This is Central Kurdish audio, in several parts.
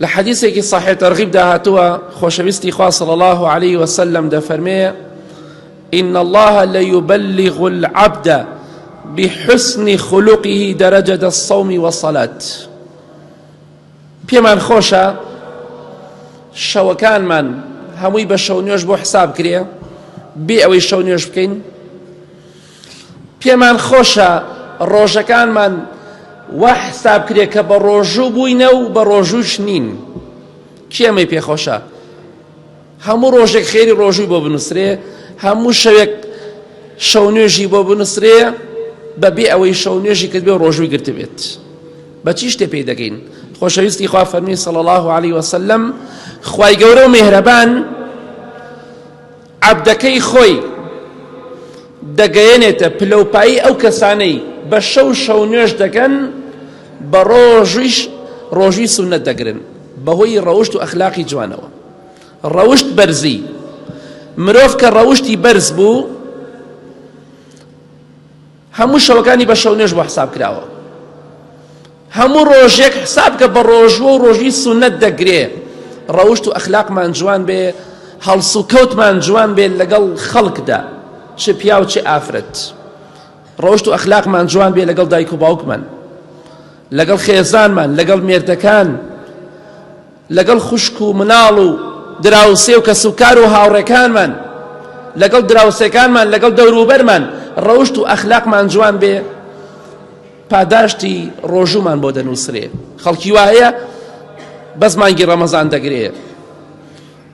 لە حەدیسێکی صحیح ترغیب دا هاتووە خۆشەویستی خوا صلی الله علیه وسلم دەفەرمێ ان الله لیبلغ العبد بحسن خلقه درجة الصوم والصلاة پێمان خۆشە شەوەکانمان هەمووی بە شەو نوێش بۆ حساب کرێ بێ ئەوەی شەو نوێش بکەین پێمان خۆشە ڕۆژەکانمان وا حساب کرێ کە بە ڕۆژوو بووینە و بە ڕۆژووش نین کێمەی پێخۆشە هەموو ڕۆژێک خێری ڕۆژووی بۆ بنووسرێ هەموو شەوێک شەو نوێژی بۆ بنووسرێ بەبێ ئەوەی شەو نوێژی کرد بێ ڕۆژووی گرتبێت بە چی شتێ پێی دەگەین خۆشەویستی خوا فەرمی سەڵ الله عليه وسلم خی گەورە و مێهرەبان عەبدەکەی خۆی دەگەیەنێتە پلەوپایی ئەو کەسانەی بە شەو شەو نوێژ دەکەن بە ڕۆژیش ڕۆژی سونەت دەگرن بەهۆی ڕەوشت و ئەخلاقی جوانەوە ڕەوشت بەرزی مرۆڤ کە ڕەوشتی بەرز بوو هەموو شەوەکانی بە شەونوێژ بۆ حساب کراوە هەموو ڕۆژێک حساب کە بە ڕۆژوە و ڕۆژوی سونەت دەگرێ ڕەوشت و ئەخلاقمان جوان بێ هەڵس و کەوتمان جوان بێت لەگەڵ خەڵکدا چ پیا و چ ئافرەت ڕۆشت و ئەخلاقمان جوان بێ لەگەڵ دایک و باوکمان لەگەڵ خێزانمان لەگەڵ مێردەکان لەگەڵ خوشک و مناڵ و دراوسێ و کەسوکار و هاوڕێکانمان، لەگەڵ دراوسێکانمان، لەگەڵ دەوروبەرمان ڕەوشت و ئەخلاقمان جوان بێ، پاداشتی ڕۆژوومان بۆ دەنووسرێ. خەڵکی وا هەیە بەس مانگی ڕەمەزان دەگرێ،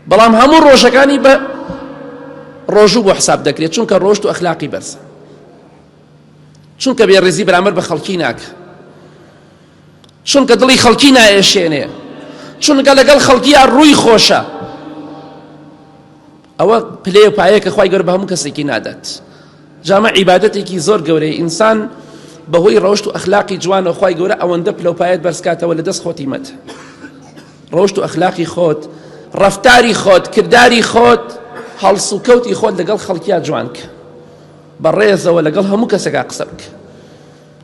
بەڵام هەموو ڕۆژەکانی بە ڕۆژوو بۆ حساب دەکرێ، چونکە ڕەوشت و ئەخلاقی بەرزە، چونکە بێڕێزی بەرامبەر بە خەڵکی ناکا. چونکە دڵی خەڵکی نائێشێنێ چونکە لەگەڵ خەڵکییا ڕووی خۆشە ئەوە پلێ پایە کە خی گەر بە هەموو کەسێکی نادات جامە عیباەتێکی زۆر گەورەی ئینسان بەهۆی ڕەوشت و ئەخلاقی جوان و خی گەورە ئەوەندە پلەپایەت بەرزکاتەوە لە دەست خۆتی مەت ڕۆشت و ئەخلاقی خۆت ڕفتاری خۆت کردداری خۆت هەڵس و کەوتی خۆت لەگەڵ خەڵکییا جوانکە بە ڕێزەوە لەگەڵ هەموو کەسێکا قسە بکە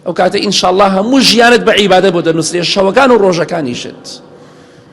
ئەوکاتە ئینشاڵڵا هەموو ژیانت بە عیبادەت بۆ دەنووسرێ شەوەکان و ڕۆژەکانیشت.